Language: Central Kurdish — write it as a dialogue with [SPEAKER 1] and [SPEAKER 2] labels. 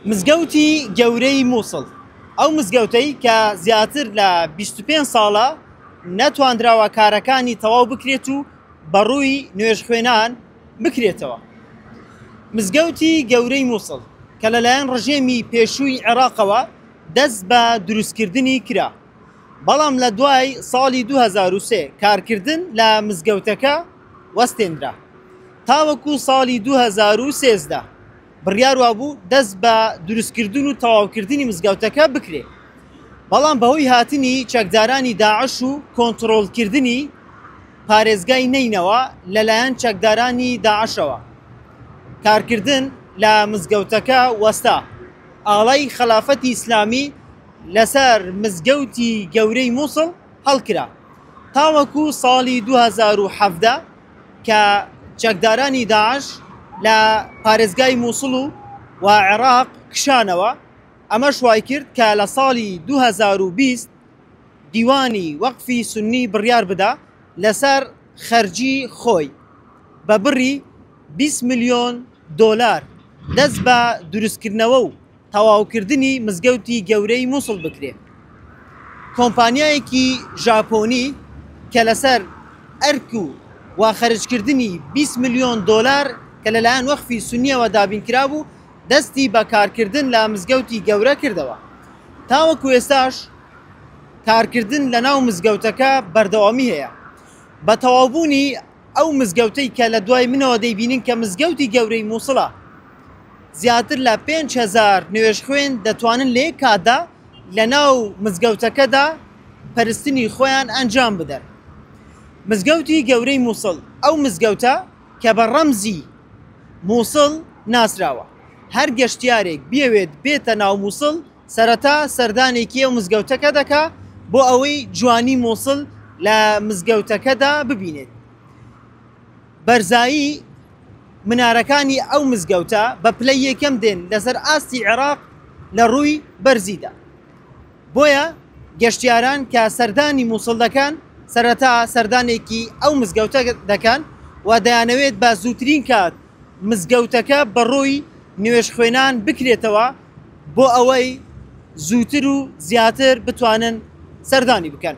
[SPEAKER 1] مزگەوتی گەورەی موسڵ، ئەو مزگەوتەی کە زیاتر لە بیست و پێنج ساڵە نەتوانراوە کارەکانی تەواو بکرێت و بەڕووی نوێژخوێنان بکرێتەوە. مزگەوتی گەورەی موسڵ کە لەلایەن ڕژێمی پێشووی عێراقەوە دەست بە دروستکردنی کرا، بەڵام لە دوای ساڵی دوو هەزار و سێ کارکردن لە مزگەوتەکە وەستێندرا تاوەکو ساڵی دوو هەزار و سێزدە بڕیار وابوو دەست بە دروستکردن و تەواوکردنی مزگەوتەکە بکرێ بەڵام بەهۆی هاتنی چەکدارانی داعش و کۆنتڕۆڵکردنی پارێزگای نەینەوا لەلایەن چەکدارانی داعشەوە کارکردن لە مزگەوتەکە وەستا ئاڵای خەلافەتی ئیسلامی لەسەر مزگەوتی گەورەی موسڵ هەڵکرا. تاوەکو ساڵی دوو هەزار و حەڤدە کە چەکدارانی داعش لە پارێزگای مووسڵ و و عێراق کشانەوە، ئەمەش وایکرد کە لە ساڵی دوو هەزار و بیست دیوانی وەقفی سوننی بڕیار بدا لەسەر خەرجی خۆی بە بڕی بیست ملیۆن دۆلار دەست بە دروستکردنەوە و تەواوکردنی مزگەوتی گەورەی موسڵ بکرێ کۆمپانیایەکی ژاپۆنی کە لەسەر ئەرک و وا خەرجکردنی بیست ملیۆن دۆلار کە لەلایەن وەخفی سونیەوە دابین کرابوو دەستی بە کارکردن لە مزگەوتی گەورە کردەوە تاوەکو ئێستاش کارکردن لەناو مزگەوتەکە بەردەوامی هەیە بە تەواوبوونی ئەو مزگەوتەی کە لە دوای منەوە دەیبینن کە مزگەوتی گەورەی مووسڵە، زیاتر لە پێنج هەزار نوێژخوێن دەتوانن لە یەک کاتدا لەناو مزگەوتەکەدا پەرستنی خۆیان ئەنجام بدەن. مزگەوتی گەورەی مووسڵ، ئەو مزگەوتە کە بە ڕەمزی مووسڵ ناسراوە، هەر گەشتیارێک بیەوێت بێتە ناو مووسڵ، سەرەتا سەردانێکی ئەو مزگەوتەکە دەکا بۆ ئەوەی جوانی مووسڵ لە مزگەوتەکەدا ببینێت بەرزایی منارەکانی ئەو مزگەوتە بە پلە یەکەم دێن لەسەر ئاستی عێراق لە ڕووی بەرزیدا بۆیە گەشتیاران کە سەردانی مووسڵ دەکەن سەرەتا سەردانێکی ئەو مزگەوتە دەکەن و دەیانەوێت بە زووترین کات مزگەوتەکە بەڕووی نوێش خوێنان بکرێتەوە بۆ ئەوەی زووتر و زیاتر بتوانن سەردانی بکەن.